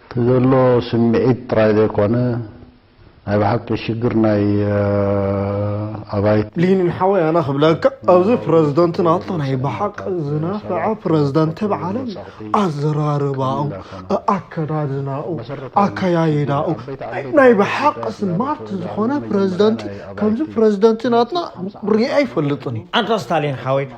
እቲ ዘሎ ስምዒት ጥራይ ዘይኮነ ናይ ብሓቂ ሽግር ናይ ኣባይቲ። ሊንን ሓወይ ኣነ ክብለካ ኣዚ ፕረዝደንት ናትና ናይ ብሓቂ ዝነፈዐ ፕረዝደንት እብ ዓለም ኣዘራርባኡ ኣኣከዳድናኡ ኣከያይዳኡ ናይ ብሓቂ ስማርት ዝኮነ ፕረዝደንት ከምዚ ፕረዝደንት ናትና ሪኤ ኣይፈልጥን ኣንታ ስታሊን ሓወይ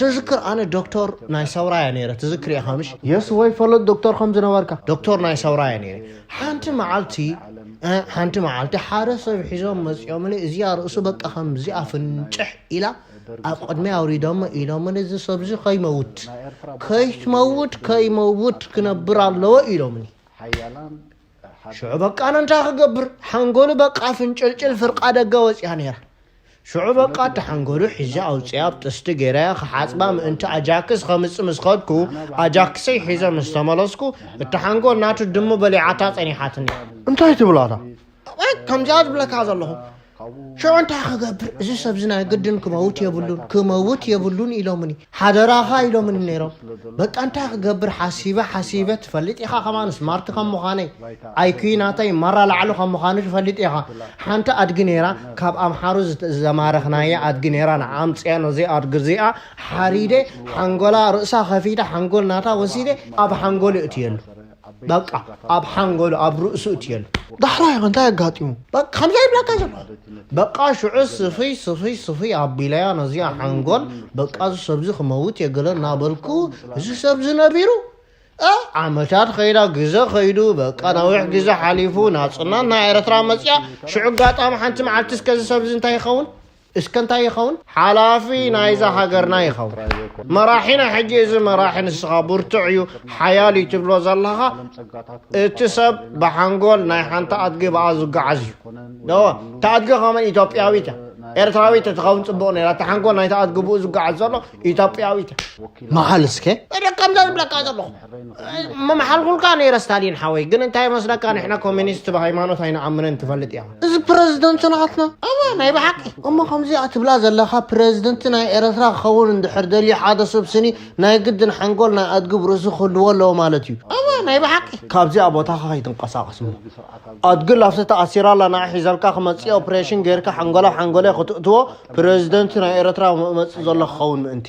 ትዝክር ኣነ ዶክቶር ናይ ሰውራ እያ ነይረ ትዝክር ኢኻ ምሽ የስ ወይ ፈለጥ ዶክቶር ከም ዝነበርካ ዶክቶር ናይ ሰውራ እያ ነይረ ሓንቲ መዓልቲ ሓንቲ መዓልቲ ሓደ ሰብ ሒዞም መፅኦምኒ እዚኣ ርእሱ በቃ ከምዚኣ ፍንጭሕ ኢላ ኣብ ቅድሚ ኣውሪዶሞ ኢሎምኒ እዚ ሰብዚ ከይመውት ከይትመውት ከይመውት ክነብር ኣለዎ ኢሎምኒ ሽዑ በቃ ኣነ እንታይ ክገብር ሓንጎሉ በቃ ፍንጭልጭል ፍርቃ ደገ ወፅያ ነይራ ሽዑ በቃ እቲ ሓንጎሉ ሒዘ ኣውፅኣ ኣብ ጥስቲ ገይረያ ክሓፅባ ምእንቲ ኣጃክስ ከምፅ ምስ ኸድኩ ኣጃክሰይ ሒዘ ምስ ተመለስኩ እቲ ሓንጎል ናቱ ድሙ በሊዓታ ፀኒሓትኒ እንታይ ትብላታ ከምዚኣ ዝብለካ ዘለኹ ሽዑ እንታይ ክገብር እዚ ሰብዚ ናይ ግድን ክመውት የብሉን ክመውት የብሉን ኢሎምኒ ሓደራኻ ኢሎምኒ ነይሮም በቃ እንታይ ክገብር ሓሲበ ሓሲበ ትፈልጥ ኢኻ ከማን ስማርት ከም ምዃነይ ኣይኩ ናተይ ማራ ላዕሉ ከም ምዃኑ ትፈልጥ ኢኻ ሓንቲ ኣድጊ ነይራ ካብ ኣምሓሩ ዘማረኽናያ ኣድጊ ነይራ ንዓ ኣምፅኣ ነዚ ኣድጊ እዚኣ ሓሪደ ሓንጎላ ርእሳ ከፊተ ሓንጎል ናታ ወሲደ ኣብ ሓንጎሉ እትየሉ በቃ ኣብ ሓንጎሉ ኣብ ርእሱ እትየሉ። ዳሕራይ ከ እንታይ ኣጋጢሙ? በቃ ከምዚ ይብለካ ዘሎ በቃ ሽዑ ስፍይ ስፍይ ስፍይ ኣቢለያ ነዚኣ ሓንጎል በቃ እዚ ሰብዚ ክመውት እየ ገለ እናበልኩ እዚ ሰብዚ ነቢሩ እ ዓመታት ከይዳ ግዘ ከይዱ በቃ ነዊሕ ግዘ ሓሊፉ ናጽናት ናይ ኤረትራ መጺኣ ሽዑ ኣጋጣሚ ሓንቲ መዓልቲ እስከ እዚ ሰብዚ እንታይ ይኸውን እስከ እንታይ ይኸውን? ሓላፊ ናይዛ ሃገርና ይኸውን። መራሒና ሕጂ እዚ መራሒ ንስኻ ብርቱዕ እዩ ሓያል እዩ ትብሎ ዘለኻ እቲ ሰብ ብሓንጎል ናይ ሓንቲ ኣድጊ በኣ ዝጓዓዝ እዩ ደወ እታ ኣድጊ ከመን ኢትዮጵያዊት እያ ኤርትራዊት እትኸውን ፅቡቕ ነራ እቲ ሓንጎል ናይቲ ኣድጊ ብኡ ዝጓዓዝ ዘሎ ኢትዮጵያዊት እያ መዓል እስከ እደ ከምዛ ዝብለካ ዘለኹ መምሓልኩልካ ነይረ ስታሊን ሓወይ ግን እንታይ መስለካ ንሕና ኮሚኒስት ብሃይማኖት ኣይንኣምንን ትፈልጥ እያ እዚ ፕረዚደንት ናትና እወ ናይ ብሓቂ እሞ ከምዚኣ ትብላ ዘለኻ ፕረዚደንት ናይ ኤረትራ ክኸውን እንድሕር ደልዩ ሓደ ሰብ ስኒ ናይ ግድን ሓንጎል ናይ ኣድጊ ብርእሱ ክህልዎ ኣለዎ ማለት እዩ እወ ናይ ብሓቂ ካብዚኣ ቦታኻ ከይትንቀሳቐስ እሞ ኣድጊ ላፍቲ ተኣሲራ ኣላ ንዓ ሒዘልካ ክመፅእ ኦፕሬሽን ጌርካ ሓንጎላ ሓንጎለ ክትእትዎ ፕረዚደንት ናይ ኤረትራ መፅእ ዘሎ ክኸውን ምእንቲ